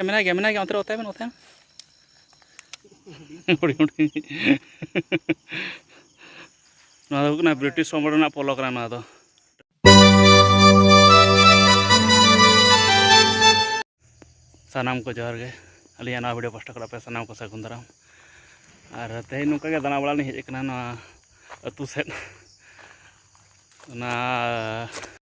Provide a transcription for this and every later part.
ᱢᱮᱱᱟᱭ ᱜᱮᱭᱟ ᱢᱮᱱᱟᱭ ᱜᱮᱭᱟ ᱚᱱᱛᱮ ᱨᱮ ᱚᱛᱟᱭ ᱵᱮᱱ ᱚᱛᱟᱭ ᱦᱩᱰᱤᱧ ᱦᱩᱰᱤᱧ ᱱᱚᱣᱟ ᱫᱚ ᱦᱩᱭᱩᱜ ᱠᱟᱱᱟ ᱵᱨᱤᱴᱤᱥ ᱥᱚᱢᱨᱟᱴ ᱨᱮᱱᱟᱜ ᱯᱚᱞᱚ ᱠᱟᱱᱟ ᱱᱚᱣᱟ ᱫᱚ ᱥᱟᱱᱟᱢ ᱠᱚ ᱡᱚᱦᱟᱨ ᱜᱮ ᱟᱹᱞᱤᱧᱟᱜ ᱱᱚᱣᱟ ᱵᱷᱤᱰᱤᱭᱳ ᱯᱟᱥᱴᱟ ᱠᱚᱲᱟ ᱯᱮ ᱥᱟᱱᱟᱢ ᱠᱚ ᱥᱟᱹᱜᱩᱱ ᱫᱟᱨᱟᱢ ᱟᱨ ᱛᱮᱦᱮᱧ ᱱᱚᱝᱠᱟ ᱜᱮ ᱫᱟᱬᱟ ᱵᱟᱲᱟ ᱞᱤᱧ ᱦᱮᱡ ᱟᱠᱟᱱᱟ ᱱᱚᱣᱟ ᱟᱹᱛᱩ ᱥᱮᱫ ᱚᱱᱟ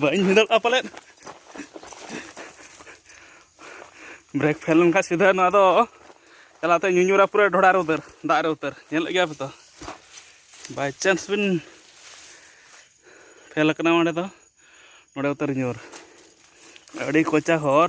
ᱵᱟᱹᱧ ᱵᱷᱤᱸᱫᱟᱹᱲᱚᱜᱼᱟ ᱯᱟᱞᱮᱫ ᱵᱨᱮᱠ ᱯᱷᱮᱞ ᱞᱮᱱᱠᱷᱟᱱ ᱥᱤᱫᱷᱟᱹ ᱱᱚᱣᱟ ᱫᱚ ᱪᱟᱞᱟᱛᱮ ᱧᱩᱧᱩᱨᱟ ᱯᱩᱨᱟᱹ ᱰᱷᱚᱲᱟ ᱨᱮ ᱩᱛᱟᱹᱨ ᱫᱟᱜ ᱨᱮ ᱩᱛᱟᱹᱨ ᱧᱮᱞᱮᱫ ᱜᱮᱭᱟ ᱯᱮ ᱛᱚ ᱵᱟᱭ ᱪᱟᱱᱥ ᱵᱤᱱ ᱯᱷᱮᱞ ᱟᱠᱟᱱᱟ ᱚᱸᱰᱮ ᱫᱚ ᱱᱚᱰᱮ ᱩᱛᱟᱹᱨ ᱧᱩᱨ ᱟᱹᱰᱤ ᱠᱚᱪᱟ ᱦᱚᱨ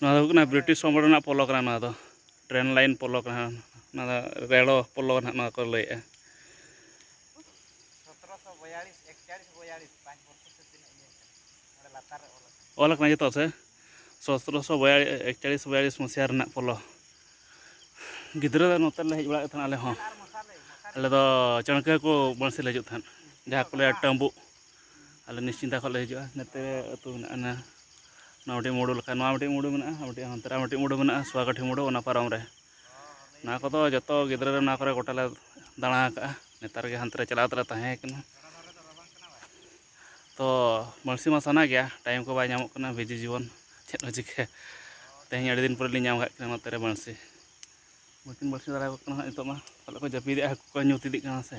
ᱱᱚᱣᱟ ᱫᱚ ᱦᱩᱭᱩᱜ ᱠᱟᱱᱟ ᱵᱨᱤᱴᱤᱥ ᱚᱢᱚᱞ ᱨᱮᱱᱟᱜ ᱯᱚᱞᱚ ᱠᱟᱱᱟ ᱱᱚᱣᱟ ᱫᱚ ᱴᱨᱮᱱ ᱞᱟᱭᱤᱱ ᱯᱚᱞᱚ ᱠᱟᱱᱟ ᱱᱚᱣᱟ ᱫᱚ ᱨᱮᱲᱚ ᱯᱚᱞᱚ ᱱᱟᱦᱟᱜ ᱱᱚᱣᱟ ᱠᱚ ᱞᱟᱹᱭᱮᱜᱼᱟ ᱚᱞ ᱠᱟᱱᱟ ᱡᱚᱛᱚ ᱥᱮ ᱥᱚᱛᱨᱚᱥᱚ ᱮᱠᱪᱟᱲᱤᱥ ᱵᱚᱭᱟᱲᱤᱥ ᱢᱚᱥᱤᱭᱟ ᱨᱮᱱᱟᱜ ᱯᱚᱞᱚ ᱜᱤᱫᱽᱨᱟᱹ ᱫᱚ ᱱᱚᱛᱮ ᱞᱮ ᱦᱮᱡ ᱵᱟᱲᱟᱜ ᱛᱟᱦᱮᱱ ᱟᱞᱮ ᱦᱚᱸ ᱟᱞᱮ ᱫᱚ ᱪᱟᱹᱬᱠᱟᱹ ᱠᱚ ᱵᱟᱹᱬᱥᱤ ᱞᱮ ᱦᱤᱡᱩᱜ ᱛᱟᱦᱮᱸᱫ ᱡᱟᱦᱟᱸ ᱠᱚ ᱞᱟᱹᱭᱟ ᱴᱟᱹᱢᱵᱩᱜ ᱟᱞᱮ ᱱᱤᱥᱪᱤᱱᱛᱟ ᱠᱷᱚᱱ ᱞᱮ ᱦᱤᱡᱩᱜᱼᱟ ᱱᱚᱛᱮ ᱟᱹᱛᱩ ᱢᱮᱱᱟᱜᱼᱟ ᱱᱚᱣᱟ ᱢᱤᱫᱴᱤᱡ ᱢᱩᱰᱩ ᱞᱮᱠᱟ ᱱᱚᱣᱟ ᱢᱤᱫᱴᱤᱡ ᱢᱩᱰᱩ ᱢᱮᱱᱟᱜᱼᱟ ᱟᱨ ᱢᱤᱫᱴᱤᱡ ᱦᱟᱱᱛᱮ ᱨᱮ ᱟᱨ ᱢᱤᱫᱴᱤᱡ ᱢᱩᱰᱩ ᱢᱮᱱᱟᱜᱼᱟ ᱥᱩᱣᱟᱠᱟᱴᱷᱤ ᱢᱩᱰᱩ ᱚᱱᱟ ᱯᱟᱨᱚᱢ ᱨᱮ ᱱᱚᱣᱟ ᱠᱚᱫᱚ ᱡᱚᱛᱚ ᱜᱤᱫᱽᱨᱟᱹ ᱨᱮ ᱱᱚᱣᱟ ᱠᱚᱨᱮ ᱜᱚᱴᱟ ᱞᱮ ᱫᱟᱬᱟ ᱟᱠᱟᱫᱼᱟ ᱱᱮᱛᱟᱨ ᱜᱮ ᱦᱟᱱᱛᱮ ᱨᱮ ᱪᱟᱞᱟᱣ ᱠᱟᱛᱮᱫ ᱞᱮ ᱛᱟᱦᱮᱸ ᱠᱟᱱᱟ ᱛᱚ ᱵᱟᱹᱬᱥᱤ ᱢᱟ ᱥᱟᱱᱟ ᱜᱮᱭᱟ ᱴᱟᱭᱤᱢ ᱠᱚ ᱵᱟᱭ ᱧᱟᱢᱚᱜ ᱠᱟᱱᱟ ᱵᱤᱡᱤ ᱡᱤᱵᱚᱱ ᱪᱮᱫ ᱮᱢ ᱪᱤᱠᱟᱹᱭᱟ ᱛᱮᱦᱮᱧ ᱟᱹᱰᱤ ᱫᱤᱱ ᱯᱚᱨᱮ ᱞᱤᱧ ᱧᱟᱢ ᱟᱠᱟᱫ ᱠᱤᱱᱟ ᱱᱚᱛᱮ ᱨᱮ ᱵᱟᱹᱬᱥᱤ ᱵᱟᱹᱠᱤᱱ ᱵᱟᱹᱬᱥᱤ ᱫᱟᱲᱮᱭᱟᱠᱚ ᱠᱟᱱᱟ ᱱᱤᱛᱚᱜ ᱢᱟ ᱯᱟᱞᱮᱫ ᱠᱚ ᱡᱟᱹᱯᱤᱫᱮᱜᱼᱟ ᱦᱟᱹᱠᱩ ᱠᱚ ᱧᱩᱛ ᱤᱫᱤᱜ ᱠᱟᱱᱟ ᱥᱮ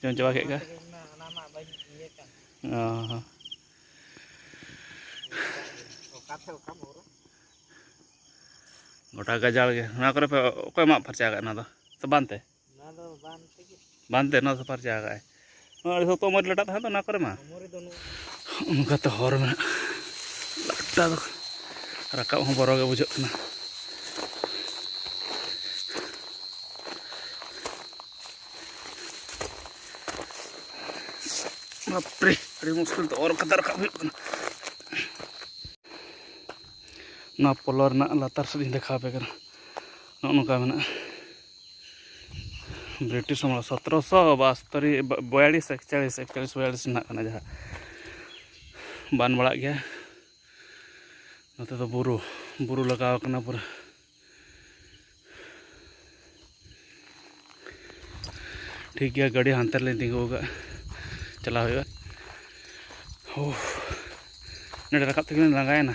ᱡᱚᱢ ᱪᱟᱵᱟ ᱠᱮᱫ ᱠᱚᱣᱟ ᱜᱚᱴᱟ ᱜᱟᱡᱟᱲ ᱜᱮ ᱱᱚᱣᱟ ᱠᱚᱨᱮ ᱯᱮ ᱚᱠᱚᱭ ᱢᱟᱜ ᱯᱷᱟᱨᱪᱟ ᱟᱠᱟᱫ ᱱᱚᱣᱟ ᱫᱚ ᱥᱮ ᱵᱟᱱ ᱛᱮ ᱵᱟᱝ ᱛᱮ ᱱᱚᱣᱟ ᱥᱟᱯᱷᱟᱨ ᱪᱟᱵᱟ ᱠᱟᱜᱼᱟᱭ ᱟᱹᱰᱤ ᱥᱚᱠᱛᱚ ᱢᱚᱡᱽ ᱞᱟᱴᱟᱜ ᱛᱟᱦᱮᱸ ᱫᱚ ᱚᱱᱟ ᱠᱚᱨᱮ ᱢᱟ ᱚᱱᱠᱟᱛᱮ ᱦᱚᱨ ᱢᱮᱱᱟᱜᱼᱟ ᱞᱟᱴᱟ ᱫᱚ ᱨᱟᱠᱟᱵ ᱦᱚᱸ ᱵᱚᱨᱚ ᱜᱮ ᱵᱩᱡᱷᱟᱹᱜ ᱠᱟᱱᱟ ᱵᱟᱯᱨᱮ ᱟᱹᱰᱤ ᱢᱩᱥᱠᱤᱞ ᱛᱮ ᱚᱨ ᱠᱟᱛᱮ ᱨᱟᱠᱟᱵ ᱦᱩᱭᱩᱜ ᱠᱟᱱᱟ ᱱᱚᱣᱟ ᱯᱚᱞᱚ ᱨᱮᱱᱟᱜ ᱞᱟᱛᱟᱨ ᱥᱮᱫ ᱤᱧ ᱫᱮᱠᱷᱟᱣ ᱟᱯᱮ ᱠᱟᱱᱟ ᱱᱚᱜᱼᱚ ᱱᱚᱝᱠᱟ ᱢᱮᱱᱟᱜᱼᱟ ᱵᱨᱤᱴᱤᱥ ᱥᱚᱢᱚᱭ ᱥᱚᱛᱨᱚᱥᱚ ᱵᱟᱥᱛᱚᱨᱤ ᱵᱚᱭᱟᱞᱤᱥ ᱮᱠᱪᱟᱞᱤᱥ ᱮᱠᱪᱟᱞᱤᱥ ᱵᱚᱭᱟᱞᱤᱥ ᱨᱮᱱᱟᱜ ᱠᱟᱱᱟ ᱡᱟᱦᱟᱸ ᱵᱟᱱ ᱵᱟᱲᱟᱜ ᱜᱮᱭᱟ ᱱᱚᱛᱮ ᱫᱚ ᱵᱩᱨᱩ ᱵᱩᱨᱩ ᱞᱟᱜᱟᱣ ᱠᱟᱱᱟ ᱯᱩᱨᱟᱹ ᱴᱷᱤᱠ ᱜᱮᱭᱟ ᱜᱟᱹᱰᱤ ᱦᱟᱱᱛᱮ ᱨᱮᱞᱤᱧ ᱛᱤᱸᱜᱩ ᱟᱠᱟᱫ ᱪᱟᱞᱟᱣ ᱦᱩᱭᱩᱜᱼᱟ ᱱᱚᱰᱮ ᱨᱟᱠᱟᱵ ᱛᱮᱜᱮ ᱞᱤᱧ ᱞᱟᱸᱜᱟᱭᱮᱱᱟ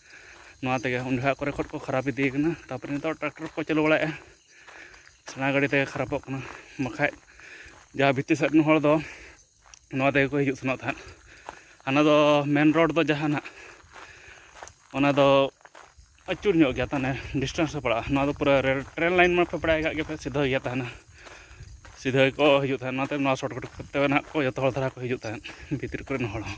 ᱱᱚᱣᱟ ᱛᱮᱜᱮ ᱩᱱ ᱡᱚᱠᱷᱟᱡ ᱠᱚᱨᱮ ᱠᱷᱚᱡ ᱠᱚ ᱠᱷᱟᱨᱟᱯ ᱤᱫᱤᱭ ᱠᱟᱱᱟ ᱛᱟᱨᱯᱚᱨᱮ ᱱᱤᱛᱚᱜ ᱴᱨᱟᱠᱴᱚᱨ ᱠᱚ ᱪᱟᱹᱞᱩ ᱵᱟᱲᱟᱭᱮᱜᱼᱟ ᱥᱮᱬᱟ ᱜᱟᱹᱰᱤ ᱛᱮᱜᱮ ᱠᱷᱟᱨᱟᱯᱚᱜ ᱠᱟᱱᱟ ᱵᱟᱠᱷᱟᱡ ᱡᱟᱦᱟᱸ ᱵᱷᱤᱛᱤᱨ ᱥᱮᱫ ᱨᱮᱱ ᱦᱚᱲ ᱫᱚ ᱱᱚᱣᱟ ᱛᱮᱜᱮ ᱠᱚ ᱦᱤᱡᱩᱜ ᱥᱮᱱᱚᱜ ᱛᱟᱦᱮᱸᱫ ᱦᱟᱱᱟ ᱫᱚ ᱢᱮᱱ ᱨᱳᱰ ᱫᱚ ᱡᱟᱦᱟᱱᱟᱜ ᱚᱱᱟ ᱫᱚ ᱟᱹᱪᱩᱨ ᱧᱚᱜ ᱜᱮᱭᱟ ᱛᱟᱦᱚᱞᱮ ᱰᱤᱥᱴᱮᱱᱥ ᱦᱚᱸ ᱯᱟᱲᱟᱜᱼᱟ ᱱᱚᱣᱟ ᱫᱚ ᱯᱩᱨᱟᱹ ᱨᱮᱞ ᱴᱨᱮᱱ ᱞᱟᱭᱤᱱ ᱢᱟᱯᱮ ᱵᱟᱲᱟᱭ ᱠᱟᱜ ᱜᱮᱯᱮ ᱥᱤᱫᱷᱟᱹ ᱜᱮᱭᱟ ᱛᱟᱦᱮᱱᱟ ᱥᱤᱫᱷᱟᱹ ᱜᱮᱠᱚ ᱦᱤᱡᱩᱜ ᱛᱟᱦᱮᱸᱫ ᱚᱱᱟᱛᱮ ᱱᱚᱣᱟ ᱥᱚᱨᱴᱠᱟᱴ ᱠᱚᱛᱮ ᱱᱟᱦᱟᱜ ᱠᱚ ᱡᱚᱛᱚ ᱦᱚᱲ ᱫᱷᱟᱨᱟ ᱠᱚ ᱦᱤᱡᱩᱜ ᱛᱟᱦᱮᱸᱫ ᱵᱷᱤᱛᱤᱨ ᱠᱚᱨᱮᱱ ᱦᱚᱲ ᱦᱚᱸ